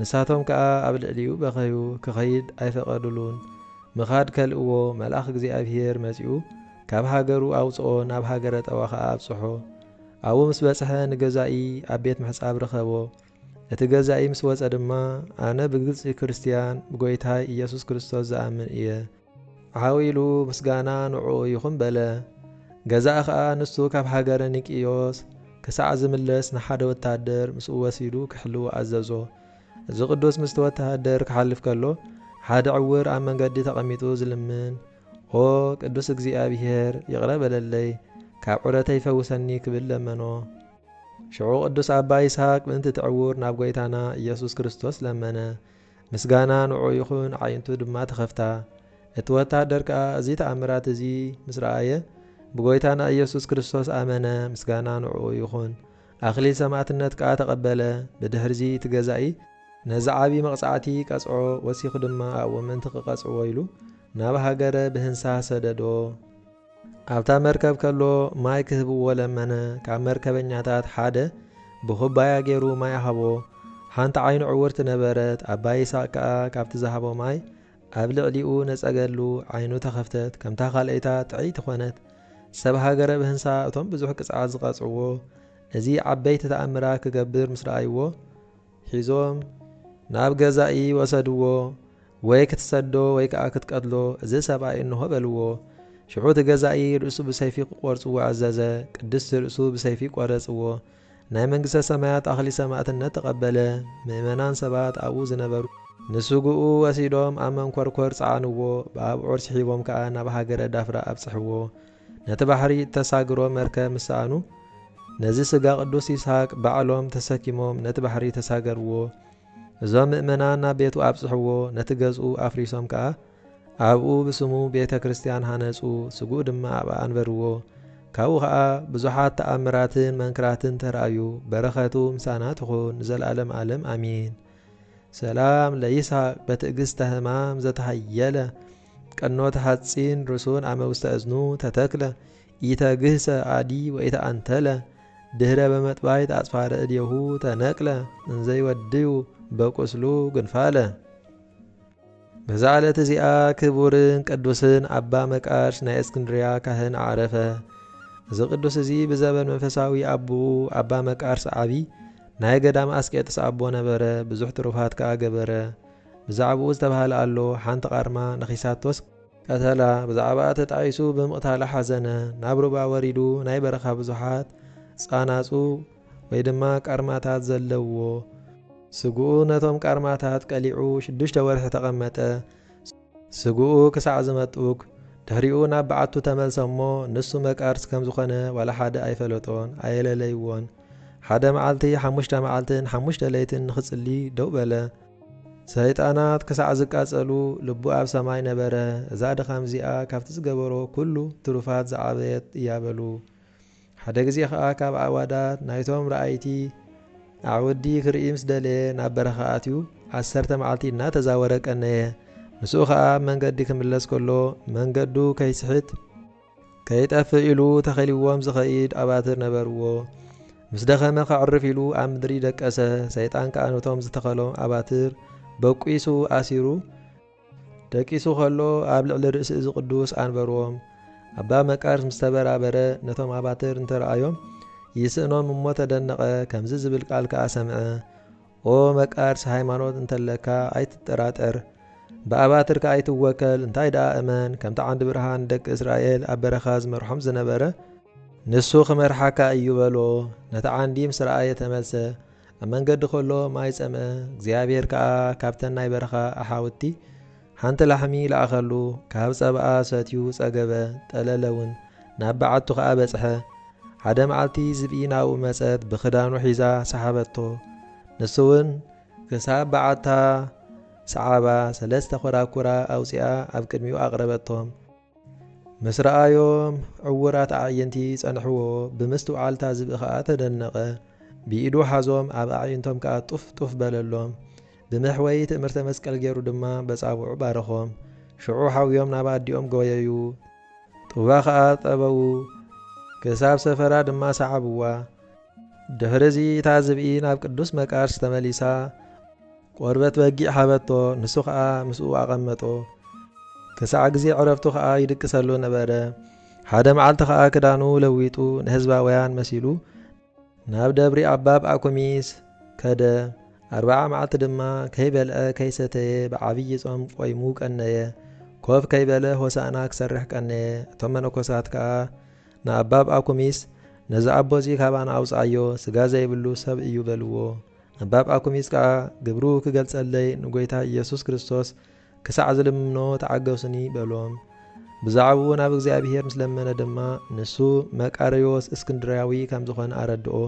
ንሳቶም ከኣ ኣብ ልዕሊኡ በኸዩ፣ ክኸይድ ኣይፈቐዱሉን። ምኻድ ከልእዎ፣ መልኣኽ እግዚኣብሄር መጺኡ ካብ ሃገሩ ኣውጽኦ፣ ናብ ሃገረ ጠዋ ኸኣ ኣብጽሖ። ኣብኡ ምስ በጽሐ ንገዛኢ ኣብ ቤት ምሕጻብ ረኸቦ። እቲ ገዛኢ ምስ ወጸ ድማ፣ ኣነ ብግልጺ ክርስትያን፣ ብጐይታይ ኢየሱስ ክርስቶስ ዝኣምን እየ፣ ዓው ኢሉ ምስጋና ንዕኡ ይኹን በለ። ገዛኢ ኸኣ ንሱ ካብ ሃገረ ኒቅዮስ ክሳዕ ዝምለስ ንሓደ ወተሃደር ምስኡ ወሲዱ ክሕልዎ ኣዘዞ። እዚ ቅዱስ ምስቲ ወተሃደር ክሓልፍ ከሎ ሓደ ዕውር ኣብ መንገዲ ተቐሚጡ ዝልምን ኦ ቅዱስ እግዚኣብሔር ይቕረ በለለይ ካብ ዑረተይ ፈውሰኒ ክብል ለመኖ። ሽዑ ቅዱስ ኣባ ይስሃቅ ምእንቲ እቲ ዕውር ናብ ጐይታና ኢየሱስ ክርስቶስ ለመነ። ምስጋና ንዕኡ ይኹን፣ ኣዒንቱ ድማ ተኸፍታ። እቲ ወተሃደር ከኣ እዚ ተኣምራት እዚ ምስ ረኣየ፣ ብጐይታና ኢየሱስ ክርስቶስ ኣመነ፣ ምስጋና ንዕኡ ይኹን። ኣኽሊል ሰማእትነት ከኣ ተቐበለ። ብድሕርዚ እቲ ገዛኢ፣ ነዚ ዓቢ መቕጻዕቲ ቀጽዖ፣ ወሲኹ ድማ ኣብኡ ምእንቲ ኺቐጽዕዎ ኢሉ፣ ናብ ሃገረ ብህንሳህ ሰደዶ። ኣብታ መርከብ ከሎ ማይ ክህብዎ ለመነ፣ ካብ መርከበኛታት ሓደ ብኹባያ ገይሩ ማይ ሃቦ፣ ሓንቲ ዓይኑ ዕውርቲ ነበረት፣ ኣባ ይስሃቅ ከኣ ካብቲ ዝሃቦ ማይ ኣብ ልዕሊኡ ነጸገሉ፣ ዓይኑ ተኸፍተት፣ ከምታ ካልኣይታ ጥዕይቲ ኮነት። ሰብ ሃገረ ብህንሳ እቶም ብዙሕ ቅጽዓት ዝቀጽዕዎ እዚ ዓበይቲ ተኣምራት ክገብር ምስ ረኣይዎ፣ ሒዞም ናብ ገዛኢ ወሰድዎ። ወይ ክትሰዶ ወይ ከኣ ክትቀትሎ እዚ ሰብኣይ እንሆ በልዎ። ሽዑ እቲ ገዛኢ ርእሱ ብሰይፊ ክቖርጽዎ ኣዘዘ። ቅድስት ርእሱ ብሰይፊ ቆረጽዎ። ናይ መንግስተ ሰማያት ኣኽሊል ሰማእትነት ተቐበለ። ምእመናን ሰባት ኣብኡ ዝነበሩ። ንስግኡ ወሲዶም ኣብ መንኮርኮር ጸዓንዎ። ብኣብዑር ስሒቦም ከኣ ናብ ሃገረ ዳፍራ ኣብጽሕዎ። ነቲ ባሕሪ እተሳግሮ መርከብ ምስ ሰኣኑ፣ ነዚ ስጋ ቅዱስ ይስሃቅ ባዕሎም ተሰኪሞም ነቲ ባሕሪ ተሳገርዎ። እዞም ምእመናን ናብ ቤቱ ኣብጽሕዎ፣ ነቲ ገዝኡ ኣፍሪሶም ከኣ ኣብኡ ብስሙ ቤተ ክርስቲያን ሃነጹ፣ ስግኡ ድማ ኣብኣ ኣንበርዎ። ካብኡ ከኣ ብዙሓት ተኣምራትን መንክራትን ተራእዩ። በረኸቱ ምሳና ትኹን ንዘልኣለም ኣለም ኣሜን። ሰላም ለይስሃቅ በትእግስተ ሕማም ዘተሃየለ ቀኖት ሐጺን ርሱን አመ ውስተ እዝኑ ተተክለ ኢተግህሰ አዲ ወኢተአንተለ ድህረ በመጥባይት አጽፋረ እዴሁ ተነቅለ እንዘ ይወድዩ በቁስሉ ግንፋለ። በዛ ዕለት እዚኣ ክቡርን ቅዱስን አባ መቃርስ ናይ እስክንድርያ ካህን አዕረፈ። እዚ ቅዱስ እዚ ብዘበን መንፈሳዊ አቡኡ አባ መቃርስ ዓቢ ናይ ገዳም አስቄጥስ አቦ ነበረ፣ ብዙሕ ትሩፋት ከኣ ገበረ። ብዛዕብኡ ዝተባህለ ኣሎ፣ ሓንቲ ቃርማ ነኺሳቶስ፣ ቀተላ፣ ብዛዕባኣ ተጣዒሱ ብምቕታላ ሓዘነ፣ ናብ ሩባ ወሪዱ ናይ በረኻ ብዙሓት ጻናጹ ወይ ድማ ቃርማታት ዘለዉዎ ስግኡ ነቶም ቃርማታት ቀሊዑ ሽዱሽተ ወርሒ ተቐመጠ፣ ስግኡ ክሳዕ ዝመጥቡግ፣ ድሕሪኡ ናብ በዓቱ ተመልሰ እሞ ንሱ መቃርስ ከም ዝኾነ ዋላ ሓደ ኣይፈለጦን፣ ኣየለለይዎን፣ ሓደ መዓልቲ ሓሙሽተ መዓልትን ሓሙሽተ ለይትን ንኽጽሊ ደው በለ፣ ሰይጣናት ክሳዕ ዝቃጸሉ ልቡ ኣብ ሰማይ ነበረ፣ እዛ ድኻም እዚኣ ካብቲ ዝገበሮ ኵሉ ትሩፋት ዝዓበየት እያ በሉ። ሓደ ግዜ ኸኣ ካብ ኣዕዋዳት ናይቶም ረኣይቲ ኣዕውዲ ክርኢ ምስ ደለየ ናብ በረኻ ኣትዩ ዓሰርተ መዓልቲ እናተዛወረ ቀነየ። ምስኡ ኸኣ ኣብ መንገዲ ክምለስ ከሎ መንገዱ ከይስሕት፣ ከይጠፍእ ኢሉ ተኸሊዎም ዝኸይድ ኣባትር ነበርዎ። ምስ ደኸመ ከዕርፍ ኢሉ ኣብ ምድሪ ደቀሰ። ሰይጣን ከኣ ነቶም ዝተኸሎም ኣባትር በቂሱ ኣሲሩ ደቂሱ ከሎ ኣብ ልዕሊ ርእሲ እዚ ቅዱስ ኣንበርዎም። ኣባ መቃርስ ምስ ተበራበረ ነቶም ኣባትር እንተረኣዮም ይስእኖም እሞ ተደነቐ። ከምዚ ዝብል ቃል ከኣ ሰምዐ። ኦ መቃርስ ሃይማኖት እንተለካ ኣይትጠራጠር ብኣባትር ከኣ ኣይትወከል እንታይ ደኣ እመን ከምቲ ዓንዲ ብርሃን ንደቂ እስራኤል ኣብ በረኻ ዝመርሖም ዝነበረ ንሱ ክመርሓካ እዩ በሎ ነቲ ዓንዲ ምስ ረኣየ ተመልሰ ኣብ መንገዲ ከሎ ማይ ጸምአ እግዚኣብሄር ከኣ ካብተን ናይ በረኻ ኣሓውቲ ሓንቲ ላሕሚ ለኣኸሉ፣ ካብ ጸባኣ ሰትዩ ጸገበ፣ ጠለለ ውን፣ ናብ በዓቱ ኸኣ በጽሐ። ሓደ መዓልቲ ዝብኢ ናብኡ መጸት፣ ብኽዳኑ ሒዛ ሰሓበቶ። ንሱ ውን ክሳብ በዓታ ሰዓባ፣ ሰለስተ ኮራኩራ ኣውጺኣ ኣብ ቅድሚኡ ኣቕረበቶም። ምስ ረኣዮም ዕዉራት ኣዕይንቲ ጸንሕዎ፣ ብምስትውዓል'ታ ዝብኢ ከኣ ተደነቐ። ብኢዱ ሓዞም ኣብ ኣዕይንቶም ከኣ ጡፍ ጡፍ በለሎም። ብመሕወዪ ትእምርተ መስቀል ገይሩ ድማ በጻብዑ ባረኾም። ሽዑ ሓውዮም ናብ ኣዲኦም ጎየዩ። ጡባ ከኣ ጠበዉ። ክሳብ ሰፈራ ድማ ሰዓብዋ። ድሕር'ዚ እታ ዝብኢ ናብ ቅዱስ መቃርስ ተመሊሳ። ቆርበት በጊዕ ሃበቶ፣ ንሱ ኸኣ ምስኡ ኣቐመጦ። ክሳዕ ግዜ ዕረፍቱ ኸኣ ይድቅሰሉ ነበረ። ሓደ መዓልቲ ኸኣ ክዳኑ ለዊጡ ንሕዝባውያን መሲሉ ናብ ደብሪ ኣባብ ኣኩሚስ ከደ። ኣርብዓ መዓልቲ ድማ ከይበልዐ ከይሰተየ ብዓብዪ ጾም ቆይሙ ቀነየ። ኮፍ ከይበለ ሆሳእና ክሰርሕ ቀነየ። እቶም መነኮሳት ከኣ ንኣባብ ኣኩሚስ ነዚ ኣቦ እዚ ካባና ኣውጽኣዮ፣ ስጋ ዘይብሉ ሰብ እዩ በልዎ። እምባብ ኣኩሚጽ ከኣ ግብሩ ክገልጸለይ ንጐይታ ኢየሱስ ክርስቶስ ክሳዕ ዝልምኖ ተዓገሱኒ በሎም። ብዛዕባኡ ናብ እግዚኣብሔር ምስ ለመነ ድማ ንሱ መቃርዮስ እስክንድርያዊ ከም ዝኾነ ኣረድኦ።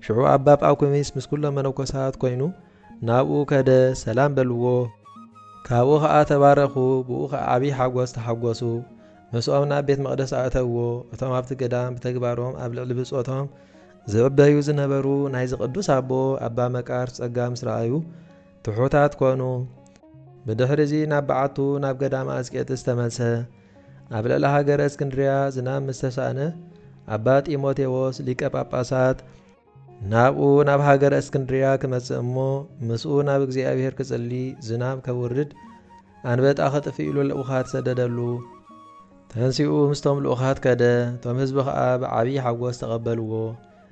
ሽዑ ኣባብ ኣኩሚስ ምስ ኩሎም መነኮሳት ኮይኑ ናብኡ ከደ ሰላም በልዎ። ካብኡ ከኣ ተባረኹ ብኡ ከኣ ዓቢይ ሓጐስ ተሓጐሱ። ምስኦም ናብ ቤት መቅደስ ኣእተዎ። እቶም ኣብቲ ገዳም ብተግባሮም ኣብ ልዕሊ ብጾቶም ዝዕበዩ ዝነበሩ ናይዚ ቅዱስ ኣቦ ኣባ መቃርስ ጸጋ ምስ ረኣዩ ትሑታት ኮኑ። ብድሕሪዚ ናብ በዓቱ ናብ ገዳመ ኣስቄጥስ ተመልሰ። ኣብ ልዕሊ ሃገረ እስክንድርያ ዝናም ምስ ተሳእነ ኣባ ጢሞቴዎስ ሊቀ ጳጳሳት፣ ናብኡ ናብ ሃገረ እስክንድርያ ክመጽእ እሞ ምስኡ ናብ እግዚኣብሔር ክጽሊ ዝናም ከውርድ ኣንበጣ ከጥፍእሉ ልኡኻት ሰደደሉ። ተንሲኡ ምስቶም ልኡኻት ከደ፣ እቶም ህዝቢ ኸኣ ብዓብዪ ሓጐስ ተቐበልዎ።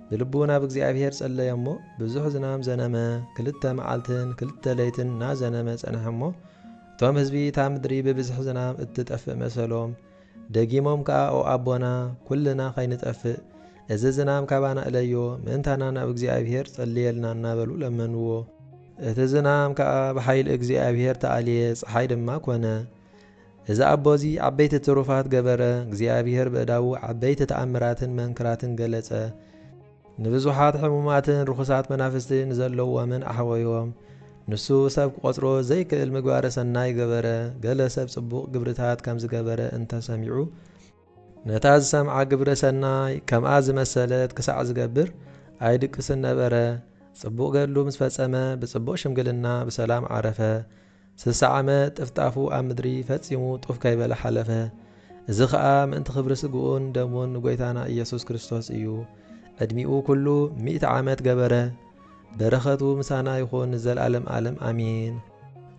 ብልቡ ናብ እግዚኣብሄር ጸለየ እሞ፣ ብዙሕ ዝናም ዘነመ፣ ክልተ መዓልትን ክልተ ለይትን እናዘነመ ጸንሐ እሞ፣ እቶም ህዝቢ እታ ምድሪ ብብዝሒ ዝናም እትጠፍእ መሰሎም። ደጊሞም ከኣ ኦ ኣቦና፣ ኵልና ኸይንጠፍእ፣ እዚ ዝናም ካባና እለዮ፣ ምእንታና ናብ እግዚኣብሄር ጸልየልና እናበሉ ለመንዎ። እቲ ዝናም ከኣ ብሓይሊ እግዚኣብሄር ተኣልየ፣ ጸሓይ ድማ ኰነ። እዚ ኣቦ እዚ ዓበይቲ ትሩፋት ገበረ፣ እግዚኣብሄር በእዳዉ ዓበይቲ ተኣምራትን መንክራትን ገለጸ፣ ንብዙሓት ሕሙማትን ርኹሳት መናፍስቲ ንዘለዎምን ኣሕወዮም፣ ንሱ ሰብ ክቆጽሮ ዘይክእል ምግባረ ሰናይ ገበረ፣ ገለ ሰብ ጽቡቕ ግብርታት ከም ዝገበረ እንተ ሰሚዑ፣ ነታ ዝሰምዓ ግብረ ሰናይ ከምኣ ዝመሰለት ክሳዕ ዝገብር ኣይድቅስን ነበረ፣ ጽቡቕ ገድሉ ምስ ፈጸመ ብጽቡቕ ሽምግልና ብሰላም ዓረፈ፣ ስሳ ዓመ ጥፍጣፉ ኣብ ምድሪ ፈጺሙ ጡፍ ከይበለ ሓለፈ። እዚ ከኣ ምእንቲ ክብሪ ስግኡን ደሙን ንጎይታና ኢየሱስ ክርስቶስ እዩ። ዕድሚኡ ኩሉ ሚእቲ ዓመት ገበረ። በረኸቱ ምሳና ይኹን ንዘልኣለም ኣለም ኣሜን።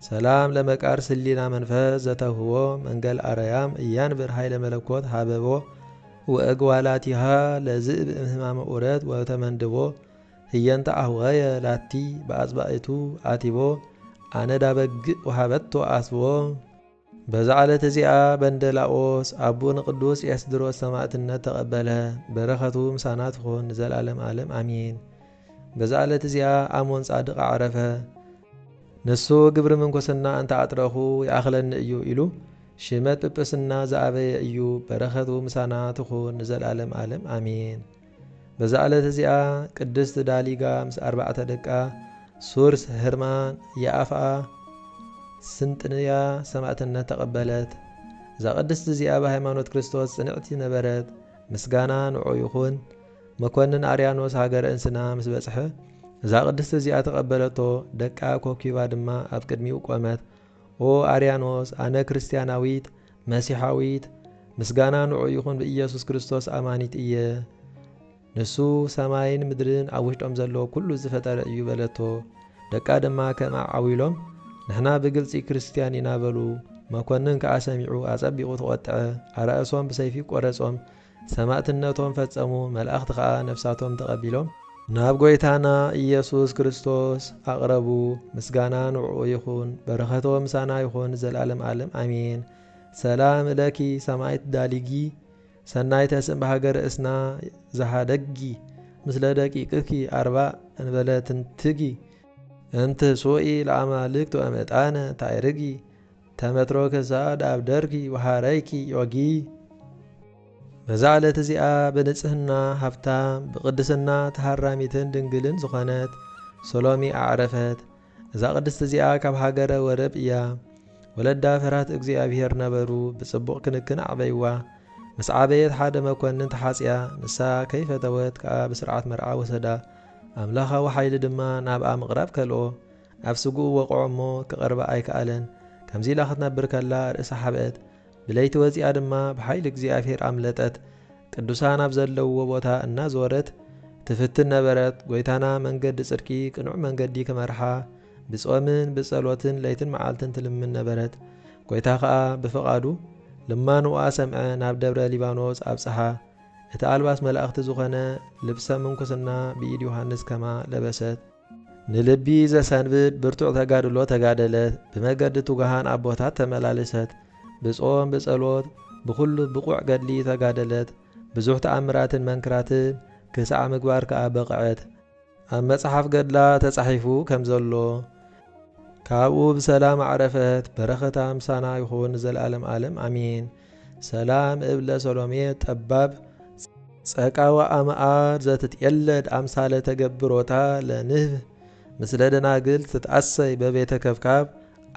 ሰላም ለመቃርስ ህሊና መንፈስ ዘተውህቦ መንገል ኣረያም እያንብር ኃይለ መለኮት ሀበቦ ወእግዋላቲሃ ለዝእብ እምህማመ ኡረት ወተመንድቦ ህየንተ ኣኅውኸየ ላቲ በኣጽባኢቱ ኣቲቦ ኣነዳ በግእ ወሃበቶ ኣስብዎ። በዛ ዕለት እዚኣ በንደላዎስ ኣቦ ንቅዱስ ኤስድሮስ ሰማእትነት ተቀበለ በረከቱ ምሳና ትኩን ንዘልኣለም ኣለም ኣሜን። በዛ ዕለት እዚኣ ኣሞን ጻድቅ ኣዕረፈ። ንሱ ግብሪ ምንኩስና እንተ ኣጥረኹ ይኣኽለኒ እዩ ኢሉ ሽመት ጵጵስና ዝኣበየ እዩ በረከቱ ምሳና ትኩን ንዘልኣለም ኣለም ኣሜን። በዛ ዕለት እዚኣ ቅድስት ዳሊጋ ምስ ኣርባዕተ ደቃ ሱርስ፣ ህርማን፣ የኣፍኣ፣ ስንጥንያ ሰማእትነት ተቐበለት። እዛ ቅድስት እዚኣ ብሃይማኖት ክርስቶስ ጽንዕቲ ነበረት። ምስጋና ንዑ ይኹን። መኮንን ኣርያኖስ ሃገረ እንስና ምስ በጽሐ እዛ ቅድስት እዚኣ ተቐበለቶ፣ ደቃ ኮኪባ ድማ ኣብ ቅድሚኡ ቆመት። ኦ ኣርያኖስ ኣነ ክርስትያናዊት መሲሓዊት፣ ምስጋና ንዑኡ ይኹን ብኢየሱስ ክርስቶስ ኣማኒት እየ፣ ንሱ ሰማይን ምድርን ኣብ ውሽጦም ዘሎ ኩሉ ዝፈጠረ እዩ በለቶ። ደቃ ድማ ከምኣ ዓው ኢሎም ንሕና ብግልጺ ክርስትያን ኢና በሉ። መኮንን ከኣ ሰሚዑ ኣጸቢቑ ተቖጥዐ፣ ኣራእሶም ብሰይፊ ቆረጾም፣ ሰማእትነቶም ፈጸሙ፣ መላእኽቲ ኸኣ ነፍሳቶም ተቐቢሎም፣ ናብ ጐይታና ኢየሱስ ክርስቶስ ኣቕረቡ፣ ምስጋና ንዕኡ ይኹን፣ በረኸቶም ምሳና ይኹን ዘለዓለም ዓለም ኣሜን። ሰላም ለኪ ሰማኢት ዳሊጊ ሰናይተ ስም በሃገረ እስና ዘኀደግጊ ምስለ ደቂቅኪ ኣርባእ እንበለ ትንትጊ፣ እም ትንሱኢ ለኣማልክት ወእም ዕጣነ ታዕርጊ፣ ተመትሮ ክሳድ ኣብ ደርኪ ወሃረይኪ ዮጊ። በዛ ዕለት እዚኣ ብንጽህና ሃብታም ብቅድስና ተሃራሚትን ድንግልን ዝኾነት ሰሎሚ ኣዕረፈት። እዛ ቅድስቲ እዚኣ ካብ ሃገረ ወረብ እያ። ወለዳ ፈርሃት እግዚኣብሔር ነበሩ ብጽቡቕ ክንክን ኣዕበይዋ። ምስ ዓበየት ሓደ መኮንን ተሓጽያ ንሳ ከይፈተወት ከኣ ብስርዓት መርዓ ወሰዳ። ኣምላኻዊ ሓይሊ ድማ ናብኣ ምቕራብ ከልኦ። ኣብ ስግኡ ወቕዖ እሞ ክቐርባ ኣይከኣለን። ከምዚ ኢላ ክትነብር ከላ ርእሳ ሓብአት። ብለይቲ ወጺኣ ድማ ብሓይሊ እግዚኣብሔር ኣምለጠት። ቅዱሳን ኣብ ዘለውዎ ቦታ እናዞረት ትፍትን ነበረት። ጐይታና መንገዲ ጽድቂ ቅኑዕ መንገዲ ክመርሓ ብጾምን ብጸሎትን ለይትን መዓልትን ትልምን ነበረት። ጐይታ ከኣ ብፍቓዱ ልማኖኣ ሰምዐ ናብ ደብረ ሊባኖስ ኣብጽሓ። እቲ ኣልባስ መላእኽቲ ዝኾነ ልብሰ ምንኩስና ብኢድ ዮሓንስ ከማ ለበሰት። ንልቢ ዘሰንብድ ብርቱዕ ተጋድሎ ተጋደለት፣ ብመገዲ ትጉሃን ኣቦታት ተመላልሰት፣ ብጾም ብጸሎት ብኹሉ ብቑዕ ገድሊ ተጋደለት፣ ብዙሕ ተኣምራትን መንክራትን ክሳዕ ምግባር ከኣ በቕዐት። ኣብ መጽሓፍ ገድላ ተጻሒፉ ከም ዘሎ፣ ካብኡ ብሰላም ኣዕረፈት፣ በረኸታ ምሳና ይኹን ንዘለኣለም ኣለም ኣሜን። ሰላም እብለ ሰሎሜ ጠባብ ጸቃ ወኣምኣር ዘትትዔለድ ኣምሳለ ተገብሮታ ለንህብ ምስለ ደናግል ትትኣሰይ በቤተ ከብካብ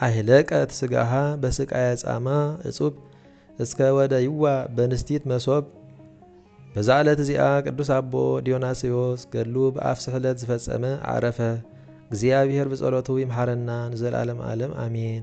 ኣይለቀት ስጋሃ በስቃየ ጻማ እጹብ እስከ ወደይዋ በንስቲት መሶብ በዛ ዕለት እዚኣ ቅዱስ ኣቦ ዲዮናስዮስ ገድሉ ብኣፍ ስሕለት ዝፈጸመ ኣዕረፈ። እግዚኣብሔር ብጸሎቱ ይምሓረና ንዘልዓለም ዓለም ኣሜን።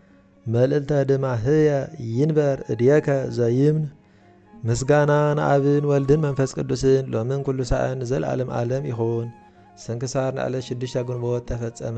መልእልተ ድማ ህየ ይንበር እድየከ ዘይምን ምስጋና ንኣብን ወልድን መንፈስ ቅዱስን ሎምን ኩሉ ሳዕን ንዘልኣለም ኣለም ይኹን። ስንክሳር ንዕለት ሽዱሽተ ግንቦት ተፈጸመ።